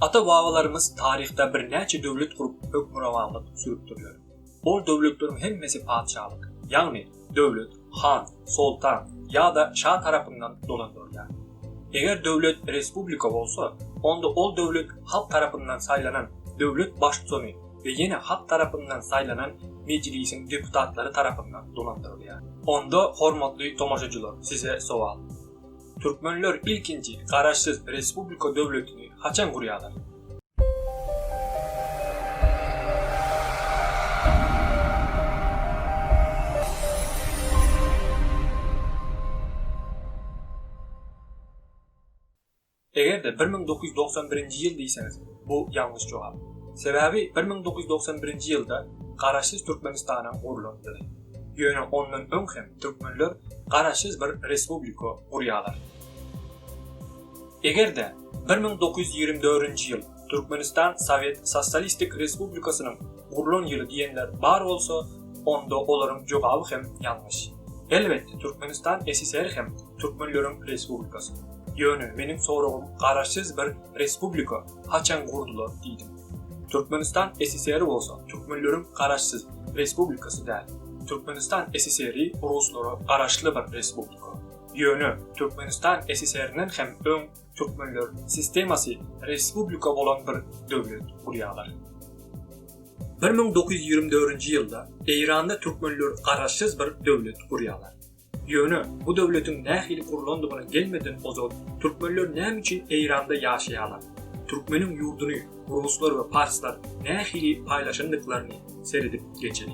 Ata-babalarymyz taryhda birnäçe döwlet gurup hökmürowanlyk sürüpdirler. Ol döwletleriň hemmesi patyşalyk, ýagny döwlet han, soltan ýa-da şa tarapyndan dolandyrylýar. Eger döwlet respublika bolsa, onda ol döwlet halk tarapyndan saýlanan döwlet baştutany we ýene halk tarapyndan saýlanan mejlisiň deputatlary tarapyndan dolandyrylýar. Onda hormatly tomaşaçylar size sowal. Türkmenler ilkinji garaşsyz respublika döwletini haçan gurýarlar? Eger-de bir müň dokuz ýüz togsan birinji ýyl diýseňiz, bu ýalňyş jogap. Sebäbi bir müň dokuz ýüz togsan birinji ýylda Garaşsyz Türkmenistanyň gurlandygy. Ýöne ondan öň hem türkmenler garaşsyz bir respublika gurýarlar. Eger-de bir müň dokuz ýüz ýigrimi dördünji ýyl Türkmenistan sowet sosýalistik respublikasynyň gurlan ýyly diýenler bar bolsa, onda olaryň jogaby hem ýalňyş. Elbetde Türkmenistan SSR hem türkmenleriň respublikasy. Ýöne meniň soragym garaşsyz bir respublika haçan gurdular diýdim. Türkmenistan SSR-i bolsa türkmenleriň garaşsyz respublikasy däl. Türkmenistan SSR-i ruslara garaşly bir respublika. Ýöne Türkmenistan SSR-inden hem öň türkmenler sistemasy respublika bolan bir döwlet gurýarlar. Bir müň dokuz ýüz ýigrimi dördünji ýylda Eýranda türkmenler garaşsyz bir döwlet gurýarlar. Ýöne, bu döwletiň nähili gurlandygyna gelmeden ozal, türkmenler näme üçin Eýranda ýaşaýarlar? Türkmeniň ýurduny ruslar we parslar nähili paýlaşandyklaryny seredip geçeli.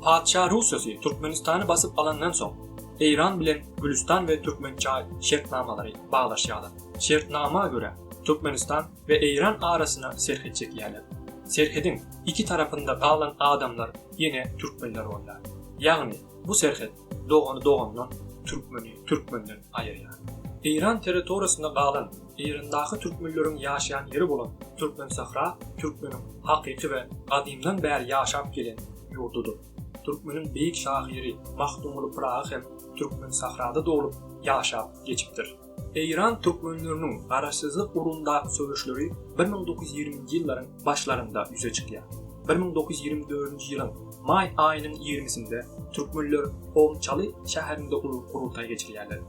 Patyşa Russosy Türkmenistany basyp alandan soň, Eýran bilen Gülüstan we Türkmençaý şertnamalary baglaşýarlar. Şertnama görä, Türkmenistan we Eýran arasyna serhet çekýärler. Serhediň iki tarapynda galan adamlar ýene türkmenler bolýar. Ýagny, Bu serhet dogany dogandan, türkmeni türkmenden aýyrýar. Eýran territoriýasynda galan, Eýrandaky türkmenleriň ýaşaýan ýeri bolan Türkmensahra türkmeniň hakyky we gadymdan bäri ýaşap gelen ýurdudyr. Türkmeniň beýik şahyry Magtymguly Pyragy hem Türkmensahrada doglup, ýaşap geçipdir. Eýran türkmenleriniň garaşsyzlyk ugrundaky söweşleri bir müň dokuz ýüz ýigriminji ýyllaryň başlarynda ýüze çykýar. Bir müň dokuz ýüz ýigrimi dördünji ýylyň maý aýynyň ýigrimisinde türkmenler Omçaly şäherinde uly gurultaý geçirýärler.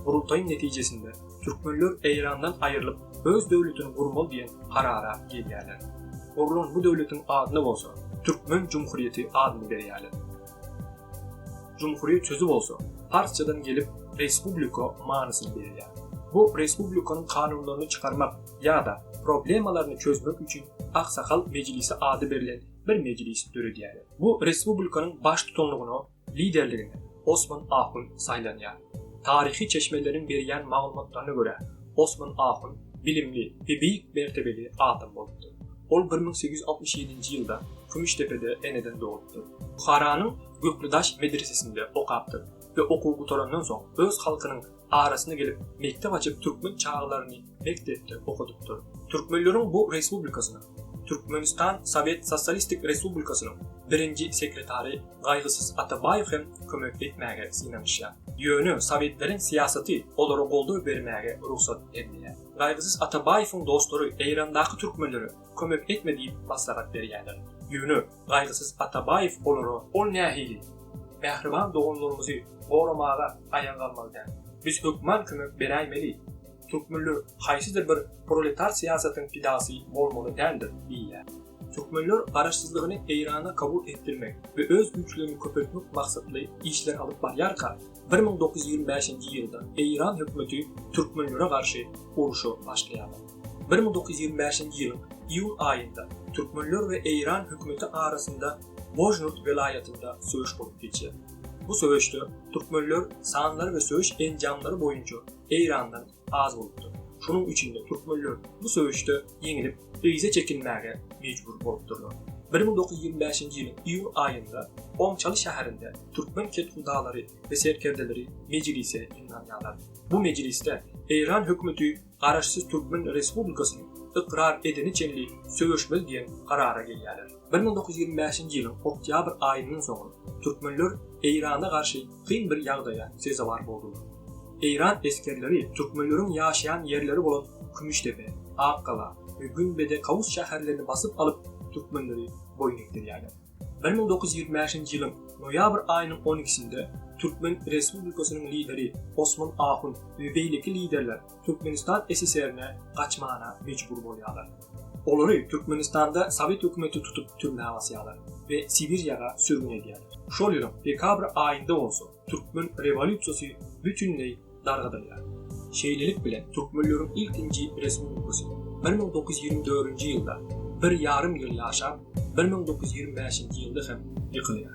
Gurultaýyň netijesinde türkmenler Eýrandan aýrylyp, öz döwletini gurmaly diýen karara gelýärler. Gurlan bu döwletiň adyna bolsa Türkmen jumhuryýeti adyny berýärler. Jumhuriýet sözi bolsa, parsçadan gelip respublika manysyny berýär. Bu respublikanyň kanunlaryny çykarmak ýa-da problemalaryny çözmek üçin Aksakal mejlisi ady berlen bir mejlis döredýärler. Bu respublikanyň baştutanlygyna, liderligine Osman ahun saýlanýar. Taryhy çeşmeleriň berýän maglumatlaryna görä, Osman ahun bilimli we beýik mertebeli adam bolupdyr. Ol bir müň sekiz ýüz altmyş ýedinji ýylda Kümüşdepede eneden dogupdyr. Buharanyň Gökledaş medresesinde okapdyr we okuw gutarandan soň öz halkynyň arasyna gelip mekdep açyp türkmen çagalaryny mekdepde okadypdyr. Türkmenleriň bu respublikasynyň, Türkmenistan Sowet Sosalistik Respublikasynyň birinji sekretary Gaýgysyz Atabaýew hem kömek etmäge synanyşýar. Ýöne sowetleriň syýasaty olara goldaw bermäge rugsat bermeýär. Gaýgysyz Atabaýewiň dostlary Eýrandaky türkmenlere kömek etme diýip maslahat berýärler. Ýöne Gaýgysyz Atabaýew olara. Ol nähili? Mähriban doganlarymyzy goramaga aýaga galmaly däl. Biz hökman kömek beräýmeli. Türkmenler haýsydyr bir proletar syýasatyň pidasy bolmaly däldir diýýär. Türkmenler Garaşsyzlygyny Eýrana kabul etdirmek we öz güýçlerini köpeltmek maksatly işler alyp barýarka, bir müň dokuz ýüz ýigrimi bäşinji ýylda Eýran hökümeti türkmenlere garşy urşa başlaýarlar. Bir müň dokuz ýüz ýigrimi bäşinji ýylyň iýun aýynda türkmenler we Eýran hökümeti arasynda Bojnurt welaýatynda söweş bolup geçýär. Bu söweşde türkmenler sanlary we söweş enjamlary boýunça Eýrandan az bolupdyr. Şonuň üçin-de türkmenler bu söweşde ýeňilip, yza çekilmäge mejbur bolupdyrlar. Bir müň dokuz ýüz ýigrimi bäşinji ýylyň iýun aýynda Oňçaly şäherinde türkmen kethudalary we serkerdeleri mejlise ýygnanýarlar. Bu mejlisde Eýran hökümeti Garaşsyz Türkmen Respublikasyny ykrar edene çenli söweşmeli diýen karara gelýärler. Bir müň dokuz ýüz ýigrimi bäşinji ýylyň oktýabr aýyndan soň türkmenler Eýrana garşy kyn bir ýagdaýa sezewar boldular. Eýran esgerleri türkmenleriň ýaşaýan ýerleri bolan Kümüşdepe, Akgala we Günbede Kawus şäherlerini basyp alyp, türkmenleri boýun egdirýärler. Bir müň dokuz ýüz ýigrimi bäşinji ýylyň noýabr aýynyň on ikisinde Türkmen Respublikasynyň lideri Osman Ahun we beýleki liderler Türkmenistan SSR-ne gaçmana mejbur bolýarlar. Olary Türkmenistanda sowet hökümeti tutup türmä basýarlar we Sibiriýaga sürgün edýär. Şol ýylyň dekabr aýynda bolsa türkmen rewolýusiýasy bütinleý dargadylýar. Şeýlelik bilen türkmenleriň ilkinji respublikasy bir müň dokuz ýüz ýigrimi dördünji ýylda bir ýarym ýyl ýaşap, bir müň dokuz ýüz ýigrimi bäşinji ýylda hem ýykylýar.